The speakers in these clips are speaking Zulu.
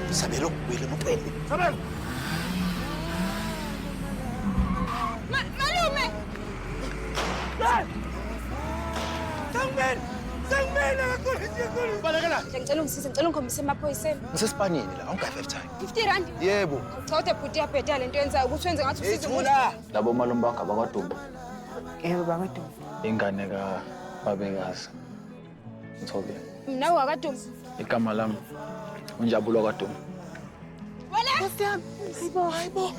Isabelo, wili mo pa ini. Isabel! Ma malume! Lan! Sangbel! Sangbel! Nakakulit siya ko! Bala ka na! Ngicela ungisize, ngicela ungikhombise emaphoyiseni. Ngisespanini la, awungayi-five time. 50 rand? Yebo. Uchote bhuti yabheda le nto yenzayo ukuthi wenze ngathi usize umuntu. Ethula! Labo malume bakho abakwaDumbe. Yebo bakwaDumbe. Ingane ka babekazi. Ngithobile. Mina wakwaDumbe. Igama lami unjabulo kwaDumbe. Wele! Nkosi yami. Hayibo, hayibo.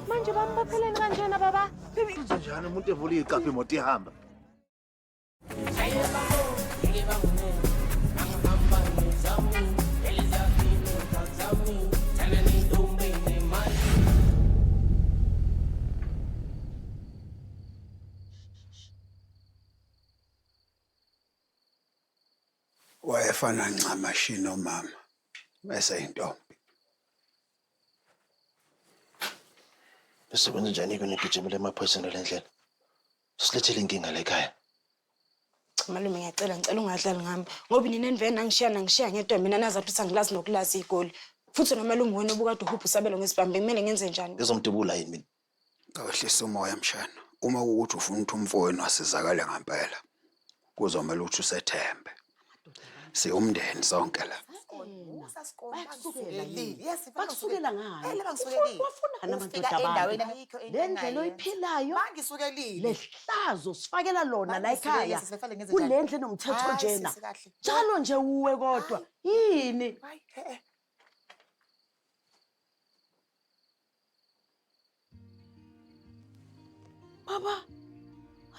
Manje bambopheleni kanjena baba. Uzenjani umuntu evula iqaphe imoto ihamba? wayefana ncamashi nomama eseyintombi Usebenza njani kunigijimela emaphoyiseni le ndlela? Silethele inkinga la ekhaya. Cha malume ngiyacela ngicela ungadlali ngami ngoba nina enivele nangishiya nangishiya ngedwa mina nazathi ukuthi angilazi nokulazi igoli. Futhi nomalume wena obukade uhubha usabelo ngesibhambe kumele ngenze njani? Ezomdubula yini mina? Awehlisa umoya mshana. Uma kuwukuthi ufuna ukuthi umfowenu asizakale ngempela, kuzomele ukuthi usethembe siwumndeni sonke la bakusukela ngani wafunani amadoda abantu le ndlela oyiphilayo le hlazo sifakela lona la ekhaya kule ndlu enomthetho njena njalo nje wuwe kodwa yini Baba!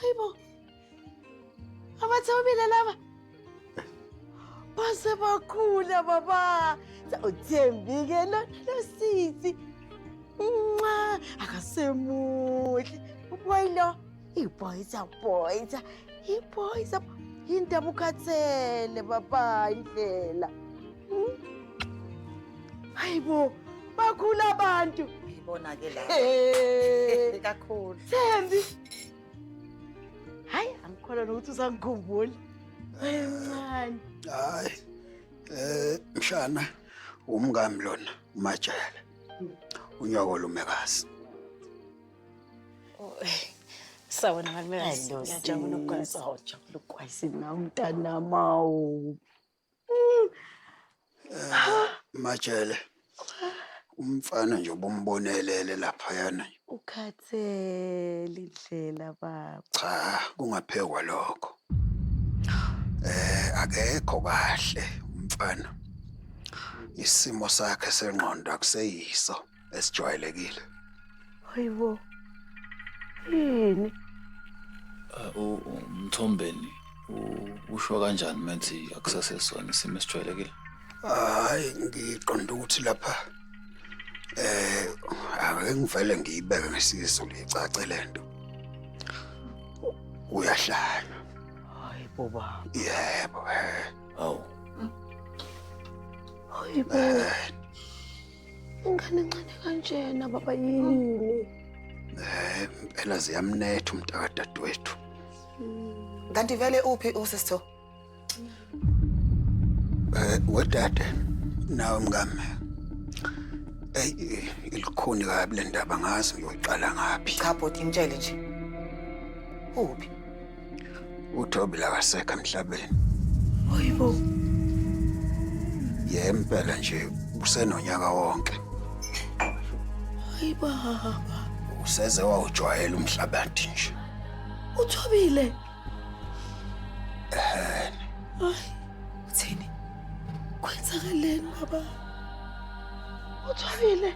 Ay bu! Ama tabii bile lava. Base bakula baba. Uthembike lo lo sisi. Nxa akasemuhle. Ubuyilo. Iboyza boyza iboyza yinto abukhathele baba indlela. Hmm? Hayibo bakhula abantu. Ngibona ke la. Eh. Kakhulu. Thembi. Hayi angikholwa nokuthi usangikhumbula. Encane. Hayi. Eh mshana umngami lona umajele. Unyoko lumekazi. Sawona malumekazi. Ngiyajabula ukugwayisa. Ngiyajabula ukugwayisa nawe mntanamawu. Eh, Majele. Umfana nje obumbonelele laphayana. Ukhathele indlela baba. Cha, kungaphekwa lokho. Eh, akekho kahle umfana. Isimo sakhe sengqondo akuseyiso. esijwayelekile hayibo yini umthombeni usho kanjani methi akusasesona isimo esijwayelekile hayi ngiqonda ukuthi lapha eh ake ngivele ngiyibeke ngesizo licace lento uyahlanya hayi boba yebo eh awu hayi boba eh, Ingane encane kanjena baba yini? Eh, impela ziyamnetha umntakadadewethu. Hmm. Kanti vele uphi usisitho? Eh, wedade nawe mngame. Ey, ilikhuni kabi le ndaba ngazi ngiyoqala ngaphi. Cha bhuti ngitshele nje. Uphi? uThobile akasekho emhlabeni hayibo yempela nje usenonyaka wonke hayibo useze wawujwayela umhlabathi nje uThobile eh hayi uthini kwenzakaleni baba uThobile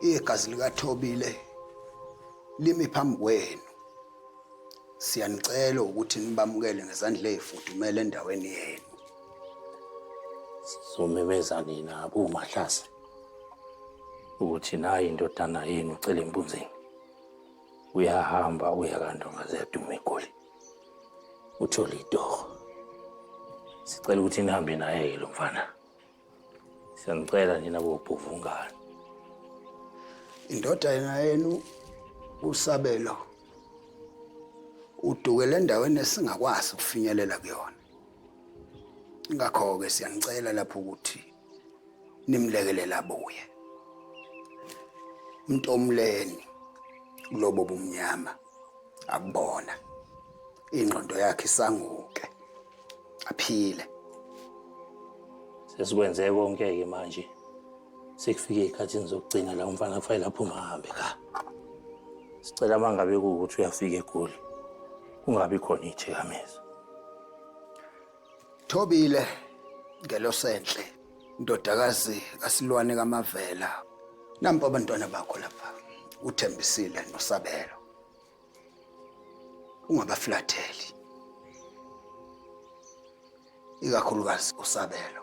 Igazi likaThobile limi phambi kwenu. Siyanicela ukuthi nibamukele ngezandla ezifudumele endaweni yenu. Sizomemeza nina abomahlase ukuthi nayi indodana yenu ucela impunzini. Uyahamba uya kandonga ziyaduma egoli. Uthole itoho. Sicela ukuthi nihambe naye lo mfana. Siyanicela nina bobhuvungane. Indodana yenu uSabelo udukele endaweni esingakwazi ukufinyelela kuyona. Ngakho-ke siyanicela lapho ukuthi nimlekelele abuye. Mntomleni kulobo bumnyama. akubona ingqondo yakhe isanguke aphile sesikwenze konke ke manje sekufike ikhathini zokugcina la umfana kufanele aphume ahambe ka sicela mangabe kuwukuthi uyafika egoli kungabi khona ithikamezwa Thobile ngelosenhle ndodakazi kasilwane kamavela nampo abantwana bakho lapha uthembisile nosabelo ungabaflatheli ikakhulukazi usabelo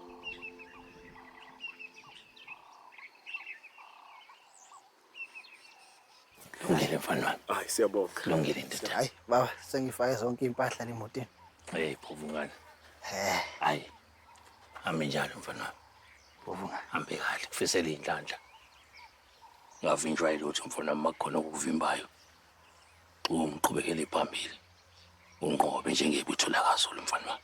Lungile mfana wami. Hayi siyabonga. Lungile ndoda. Hayi baba sengifake zonke impahla lemotini. Hey phuvungana. Eh. Hayi. Hambe njalo mfana wami. Phuvungana. Hambe kahle kufisela inhlanhla. Ngavinjwa ilutho mfana wami makukhona okuvimbayo. Ungiqhubekele phambili. Unqobe njengebutho lakaZulu mfana wami.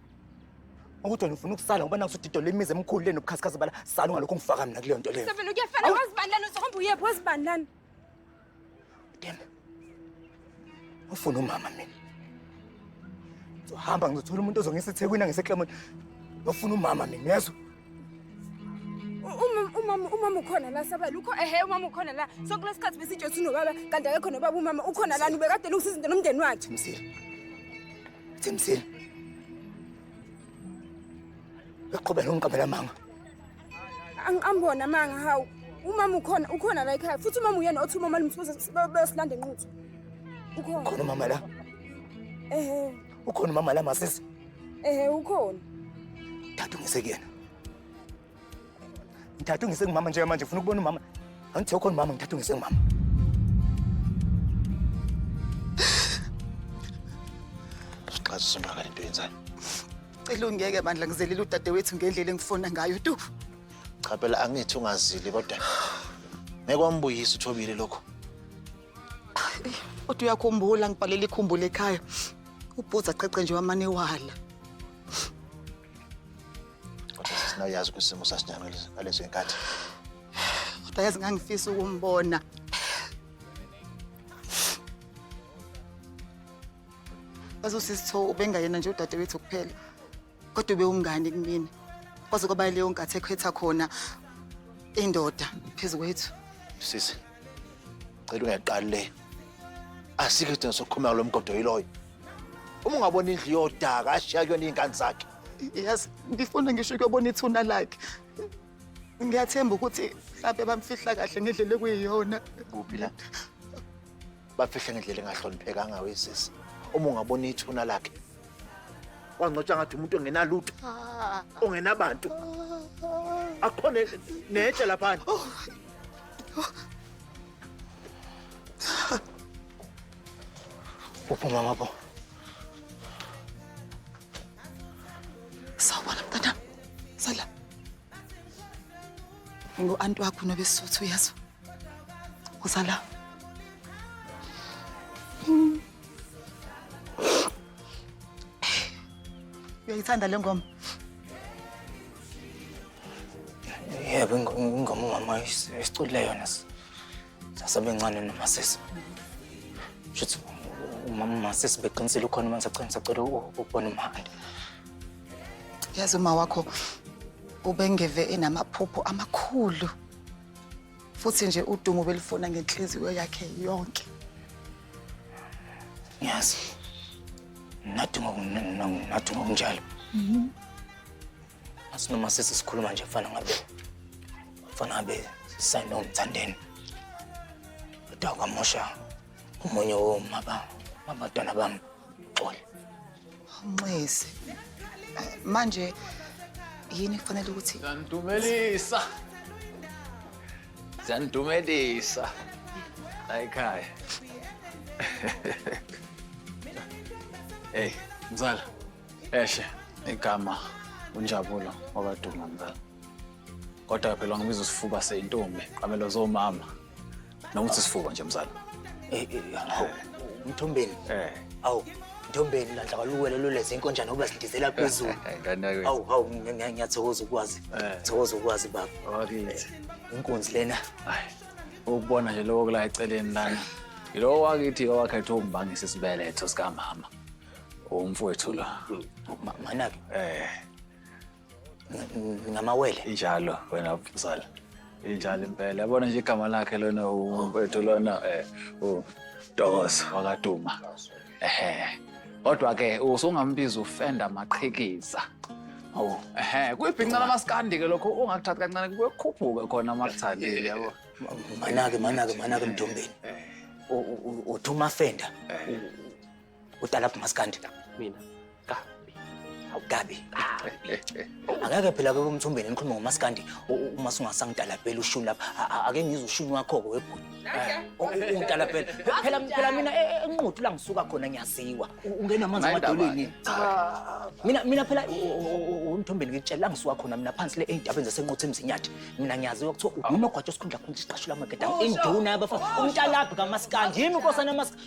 ukuthi wena ufuna ukusala ngoba nakusudidola imizi emikhulu le nobukhazikhazi bala sala ungalokhu ungifaka mina kuleyo nto leyo Seven ukuyafana Awu. wazi bani lana uzohamba uyephi wazi bani lana dem ufuna umama mina ngizohamba ngizothola umuntu ozongisa ethekwini angiseklomoni ngiyofuna umama mina uyezwa umama umama ukhona la sabala ukho ehe umama ukhona la so kulesi sikhathi besitsho ukuthi unobaba kanti akekho nobaba umama ukhona lani ubekade lungisa izinto nomndeni wakhe Themsile. Themsile. Uqhubela ungiqabela manga. angiqambona manga hawu umama ukhona ukhona la ekhaya futhi umama uyena othi umama limfuza beyosilanda enquthu ukhona Khona mama la. ehe Ukhona umama la masisi? Ehe ukhona. Thathu ngisekuyena. Ngithathu ngisengumama nje manje ngifuna ukubona umama. Angithi ukhona umama ngithathu ngisengumama. Siqhaza sona lento yenzayo. Cela ungeke bandla ngizelile udadewethu ngendlela engifona ngayo tu. Cha phela angithi ungazili kodwa ngeke wambuyisa uthobile lokho. Kodwa uyakhumbula ngibhalela ikhumbula ekhaya. Ubhuza qeqe nje wamane wala. Sina uyazi ukuthi isimo sasinjani ngalezo- ngalezo y'nkathi. Kodwa yazi ngangifisa ukumbona. Yazi usisi Tho ubengayena nje udadewethu kuphela. kodwa ube umngane kumina kwaze kwaba leyo nkathi ekhetha khona indoda phezu kwethu sisi cela ungeqali le asikho isidingo sokukhuluma kulo mgodo yiloyo uma ungabona indlu yodaka ashiya kuyona iy'ngane zakhe yazi ngifuna ngisho ukuyobona ithuna lakhe ngiyathemba ukuthi mhlawumbe bamfihla kahle ngendlela ekuyiyona kuphi la bafihle ngendlela engahloniphekanga wesisi uma ungabona ithuna lakhe wangcotshwa ngathi umuntu ongenalutho ongenabantu akho ne- netshe laphana uphi umama bo Sawubona mntanami. Sala. Ngu-anti wakho nobesuthu uyazwa. Uzala. Uyayithanda le ngoma? Yebo, ingoma umama esiculile yona sasebencane nomasisi. Shuthi umama umasisi beqinisile ukhona uma ngisacela ngisacela ukubona umhandi. Yazi uma wakho ubengeve enamaphupho amakhulu. futhi nje udumo belifuna ngenhliziyo yakhe yonke ngiyazi naduma naduma kunjalo mhm. asinoma sisi sikhuluma nje mfana ngabe mfana ngabe sanomthandeni kodwa kwamosha omunye womaba mabantwana bami uxole Nxese. Manje yini kufanele ukuthi Zandumelisa. Zandumelisa. La ekhaya. Hey, mzala. Eshe igama unjabulo wakaduma mzala. Kodwa phela ngibiza usifuba seyintombi, qamelo zomama. Noma uthi isifuba nje mzala. Eh, eh, eh, hawu, Mthombeni. Eh. Awu, Mthombeni landla kwaluwele luleze inkonjana ukuba sidizela phezulu. Ngane yakwethu. Awu, hawu, ngi- ngi- ngiyathokoza ukwazi. Eh. Thokoza ukwazi baba. Wakithi. Inkunzi lena. Hayi. Ukubona nje lowo kula eceleni lana. Yilowo wakithi owakhetha umbangisa isibeletho sikamama. Umfowethu lo. Ma- Manake. Eh. ngamawele injalo wena mzala injalo impela yabona nje igama lakhe lona umfethu lona eh udokozo wakaduma ehe kodwa ke usungambiza ufenda maqhikiza Oh, ehe, kuyibhinca lamaskandi ke lokho ungakuthathi kancane kuyokhuphuka khona makuthandile yabo. Manake manake manake mdombeni. Eh. Uthuma fenda eh. Udala phi maskandi? Mina. Gabi. Awugabi. Angeke phela ke umthumbeni nikhuluma ngomaskandi uma sungasangitalapela ushuni lapha. Ake ngizwe ushuni wakho ke webhuti. Ungitalapela. Phela phela mina e, e, enquthu la ngisuka khona ngiyaziwa. Ungena amanzi amadolweni. Mina mina phela umthumbeni ngikutshela la ngisuka khona mina phansi le eindabeni zasenquthu emzinyathi. Mina ngiyaziwa kuthiwa unogwaja osikhundla khona isiqashula amageda. Induna yabafa. Umtalabhi kamaskandi. Yimi nkosana maskandi.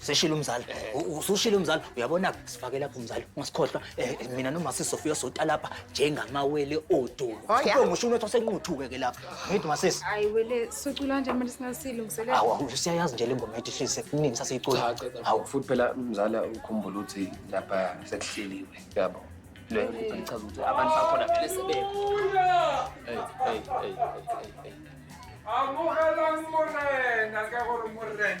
seshilo umzali U- usushilo umzali uyabona sifake lapho umzali ungasikhohlwa Eh, eh, mina noma sisofika sota lapha njengamawele odulu Oh, yeah. Ube ngisho unetho senquthuke ke lapha ngithi masisi Hayi wele socula nje manje singasilungiselela. awu awu, siyayazi nje lengomo ethi hlise kuningi sasiyicula awu futhi phela mzala ukhumbula ukuthi lapha sekuhleliwe yabo le nto ichaza ukuthi abantu bakhona vele sebekho Hey, hey, hey, hey, hey, hey. amogelang morena ka gore morena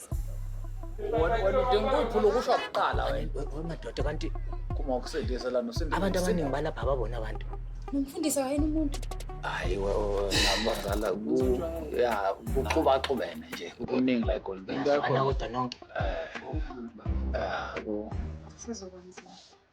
Wena wena udinga ukuyiphula ukusho kuqala wena. Madoda kanti Kuma ukusindisa lana usindisa. abantu abaningi balapha ababona abantu. Nomfundisi wayena umuntu. Hayi nabazala ku ya kuxuba xubene nje kuningi la eGolden Bay. Ana kodwa nonke. Eh. Ah, ku- Sizokwenza.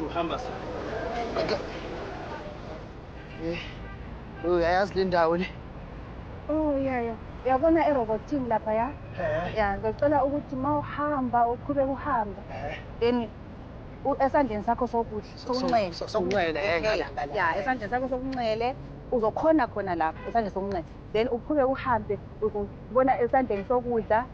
Uhamba sa. Eh. Uyayazi le ndawo le. Oh yeah yeah. Uyabona erobothini lapha ya? Eh. Ya, ngicela ukuthi mawuhamba uqhube uhamba. Eh. Then esandleni sakho sokudla sokunxele. Sokunxele eh. Ya, esandleni sakho sokunxele uzokhona khona lapha esandleni sokunxele. Then uqhube uhambe ubona esandleni sokudla